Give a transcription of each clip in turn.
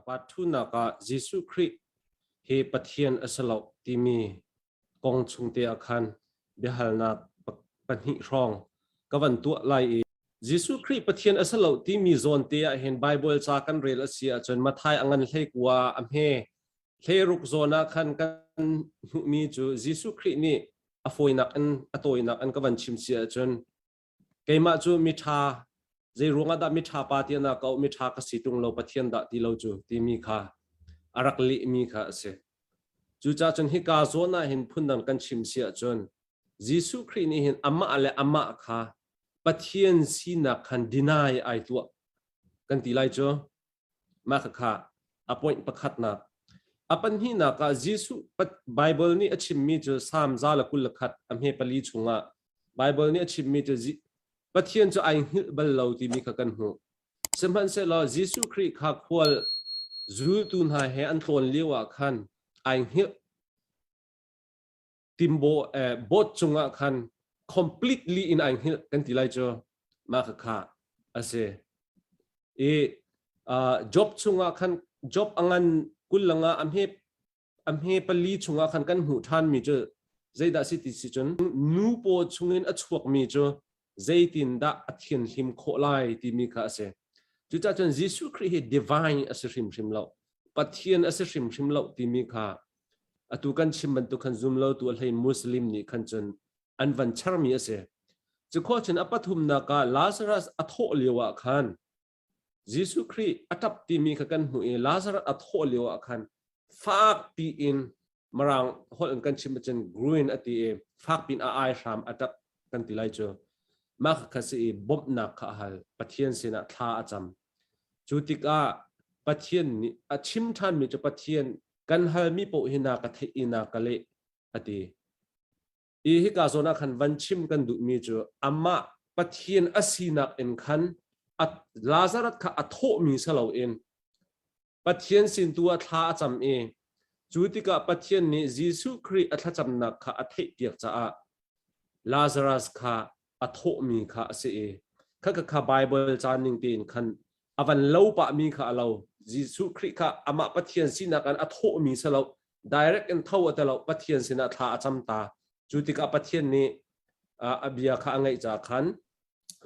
Apart thunak ah Jesuh Khrih hi Pathian a si loh timi kong chungte ah khan biahalnak pahnih hrawng ka van tuah lai i Jesuh Khrih Pathian a si loh timi zawnte ah hin Bible ca kan rel a si ahcun Mathai a ngan hlei kua a hme Hleruk zawn ah khan kan hmuhmi cu Jesuh Khrih nih a fawinak in a tawinak in ka van chim si ahcun keimah cu miṭha zei ruangah dah miṭha pa tiahnak ka auh miṭha ka si ṭung lo Pathian dah ti lo cu timi kha a rak lehmi kha a si. Cucaah cun hika zawn ah hin phundang kan chim si ahcun Jesuh Khrih nih hin amah le amah kha Pathian sinak khan deny ai tuah kan ti lai cu. Mah khakha a point pakhatnak, A pahnihnak ah Jesuh Baibal nih a chimmi cu Salm za le kul le khat a hme pali chungah Baibal nih a chimmi cu Pathian cu ai hngilh bal lo timi kha kan hmuh. Sihmanhsehlaw Jesuh Khrih kha khual zultu hna he an tlawn lioah khan ai hngilh. timbawh eh, boat cungah khan completely in ai hngilh kan ti lai cu ma kha kha ase i uh, job chungah khan job angan kullanga amhe amhe pali chungah khan kan hmu than mi cu zeidah si ti si cun nu paw chungin a chuak mi cu zeitindah a thianhlim khawh lai timi kha a si. Cucahcun Jesuh Khrih hi divine a si hrimhrim lo, Pathian a si hrimhrim lo timi kha atu kan chim bantuk khan zumlotu a hlei Muslim nih khan cun an van charmi a si. Cu khua cun a pathumnak ah Lazarus a thawh lio ah khan Jesuh Khrih a ṭap timi kha kan hmuh i Lazarus a thawh lio ah khan fak piin Mirang holh in kan chim ahcun green a ti i fak piin a ai hram a ṭap kan ti lai cu. Mah kha si i bawmhnak kha a hal. Pathian sinah thla a cam. Cu tikah Pathian nih a chim ṭhanmi cu Pathian kan halmi paoh hi na ka theih i na ka leh a ti. Hi hika zawn ah khan van chim kan duhmi cu amah Pathian a sinak in khan a Lazarus kha a thawhmi si loin Pathian sin tu ah thla a cam i cu tikah Pathian nih Jesuh Khrih a thlacamnak kha a theihpiak caah Lazarus kha a thawhmi kha a si i kha Bible caan ning tein khan a van lo pahmi kha a lo. Jesuh Khrih kha amah Pathian sinak in a thawhmi si lo direct in tho a ti lo pathian sinah thla a cam ta cu tikah pathian nih a bia kha a ngaih ca khan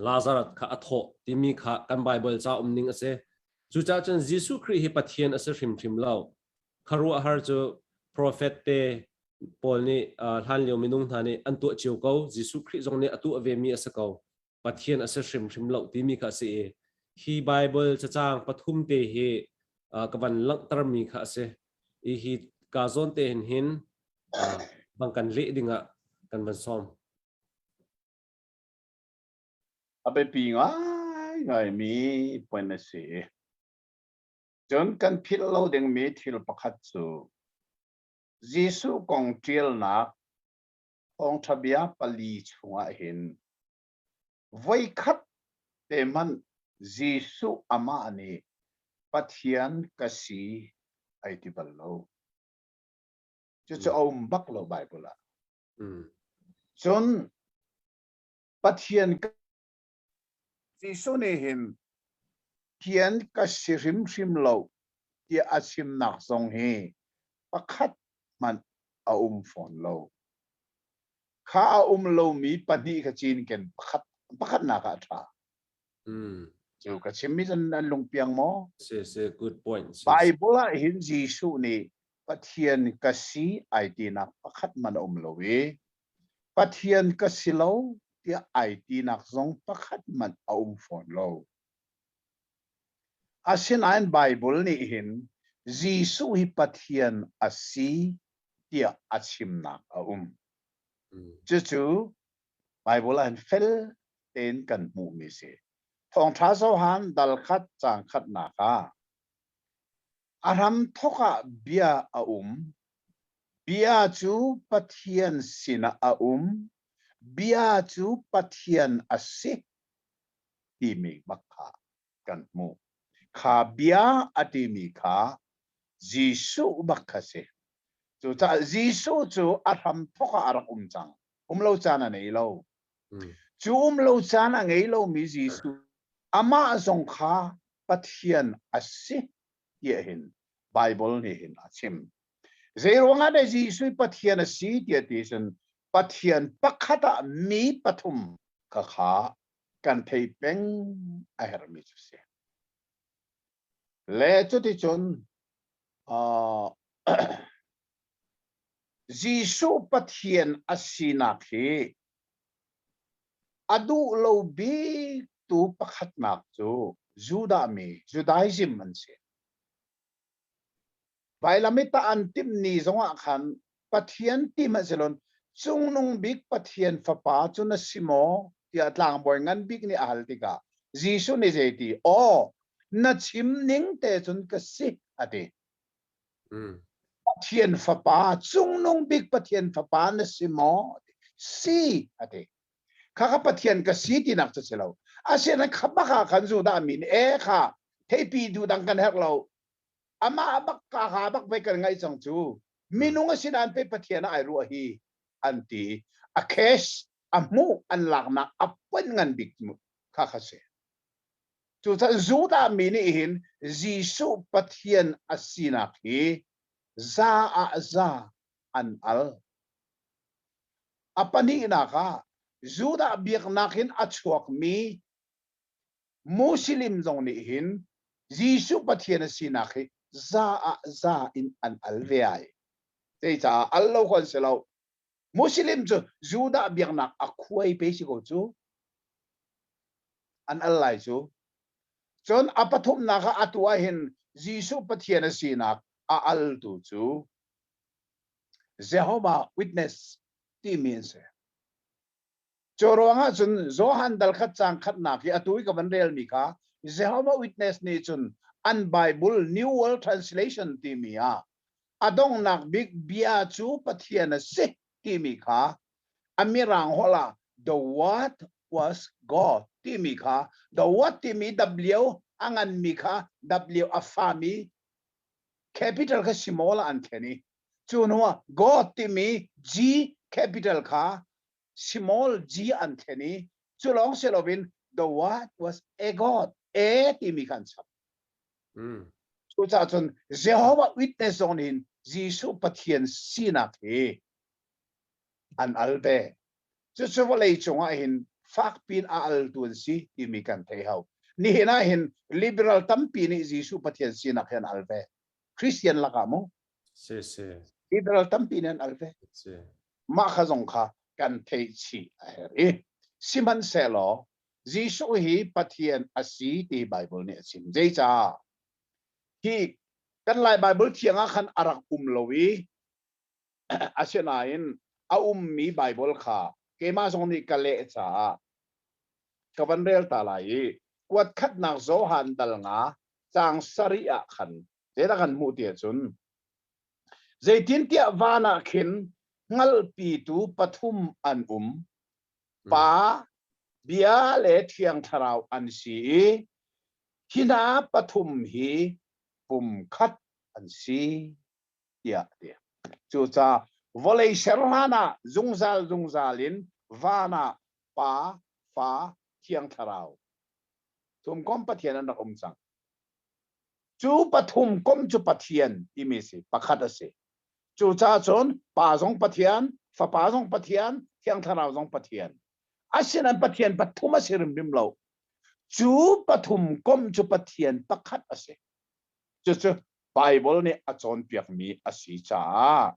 lazarus kha a thawh timi kha kan bible ca um ning a si cucaah cun jesuh khrih hi pathian a si hrimhrim lo kharuahhar cu profet te paul nih hlan lio minung hna nih an tuah cio ko jesuh khrih zong nih a tuah ve mi a si ko Pathian a si hrimhrim lo timi kha a si i hi Baibal cacang pathum te hi ka van langhtermi kha a si i hi kaa zawn te hin hin bang kan leh dingah kan van sawm. A biapi ngaingaimi point a si. Cun kan philh lo dingmi thil pakhat cu Jesuh kong ṭialnak thawngṭha bia pali chungah hin voikhat te hmanh Jesuh amah nih Pathian ka si ai ti bal lo. Cucu a um bak lo Baibal ah. Cun Pathian Jesuh nih hin thian ka si hrimhrim lo tiah a chimnak zong hi pakhat hmanh a um fawn lo. Kha a um lomi pahnih kha cinken pakhat, pakhatnak ah a ṭha. Mm. Cu ka chimmi cun an lung piang maw? Si, si, good point. Si, si. Bible ah hin Jesuh nih Pathian ka si ai tinak pakhat man a um lo i Pathian ka si lo tiah ai tinak zong pakhat hmanh a um fawn lo. Asinain Baibal nih hin Jesuh hi Pathian a si tiah a chimnak a um. Cucu Baibal ah hin fel tein kan hmuhmi si. Thawngṭha cohan dalkhat cang khatnak ah a hram thawk ah bia a um Bia cu Pathian sinah a um, bia cu Pathian a si timi bak kha kan hmuh. Kha bia a timi kha Jesuh bak kha si. Cucaah Jesuh cu a hramthawk ah a rak um cang. Um lo caan a ngei lo. Hmm. Cu um lo caan a ngei lomi Jesuh, amah zong kha Pathian a si ti hin Baibal nih hin a chim. Zeiruangah dah Jesuh Pathian a si tiah ti cun Pathian pakhat ah mi pathum kha kha kan thei peng a herhmi cu si. Le cuticun uh, Jesuh Pathian a sinak hi a duh lo biktu pakhatnak cu Judah mi, Judaism an si. Vailam i tah an timhni zongah khan Pathian tim a si lo. Cungnung bik Pathian Fapa cu na si maw? tiah tlangbawi ngan bik nih a hal tikah Jesuh nih zei ti? Aw, na chim ning te cun ka si, a ti. Pathian Fapa, cungnung bik Pathian Fapa na si maw? Si, a ti. kha kha pathian ka si tinak cu si lo asina khabak ah khan judah mi nih e kha theipi du dang kan herh lo amah bak ka ha bak ve kan ngai cang cu minung a sinan pe pathian ai ruah hi an ti a cash a mu an laknak a pen ngan bik kha kha se cucun judah mi nih hin jesuh pathian asinak hi za ah za an al. A pahnihnak ah Judah biaknak in a chuakmi Muslim zong nih hin Jesuh Pathian a sinak hi za ah za in an al ve ai. Zeicaah al lo kan si lo. Muslim cu Judah biaknak a khuai pe si ko cu. An al lai cu. Cun a pathumnak ah atu ah hin Jesuh Pathian a sinak a altu cu Jehovah Witness timi an si. Cu ruangah cun Johan dal khat cang khatnak hi atu i ka van relmi kha Jehovah Witness nih cun an Bible New World Translation timi ah a donghnak bik bia cu Pathian a si timi kha a mirang holh ah The Word was God timi kha The Word timi W a nganmi kha W a fami Capital kha simawl ah an ṭhen i cu hnuah God timi G capital kha simawl G an ṭhen i cu lawng si loin the word was a god a timi kha an chap. Mm. Cucaah cun Jehovah Witness zong nih Jesuh Pathian sinak hi an al ve. Cucu vawlei cungah hin fakpiin a altu an si timi kan thei hau. Nihin ah hin liberal tampi nih Jesuh Pathian sinak hi an al ve. Christian lakah mu. Si, si. Liberal tampi nih an al ve. Si. Mah kha zong kha kan theih chih a herh i, sihmanhsehlaw Jesuh hi Pathian a si ti Bible nih a chim. Zeicah? Hi kan Lai Bible thiang ah khan a rak um lo i, Asinain a ummi Baibal kha keimah zong nih ka leh caah ka van rel ta lai i kuatkhatnak Johan dal nga caang sarih ah khan zeidah kan hmuh ti ahcun zeitintiah van ah khin hngalhpitu pathum an um pa bia le thiang thlarau an si i hi hna pathum hi pumkhat an si tiah a ti. Cucaah vawlei ser hlanah zungzal zungzal in van ah Pa, Fa, Thiang Thlarau, Thumkomh Pathian an rak um cang. Cu pathum kom cu Pathian timi a si, pakhat a si. Cucaah cun Pa zong Pathian, Fapa zong Pathian, Thiang Thlarau zong Pathian. Asinain Pathian pathum a si rimbim lo. Cu pathum kom cu Pathian pakhat a si. cucu Baibal nih a cawnpiakmi a si caah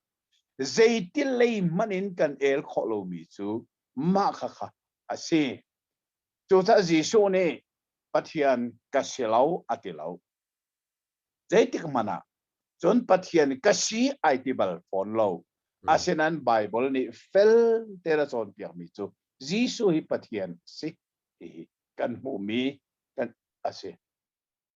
zeitilei hmanh in kan el khawh lomi cu mah khakha a si. Cucaah Jesuh nih Pathian ka si lo a ti lo. Zeitik hmanh ah cun Pathian ka si ai ti bal fawn lo. Asinain Baibal nih felte a cawnpiakmi cu Jesuh hi Pathian a si tihi kan hmuhmi kan a si.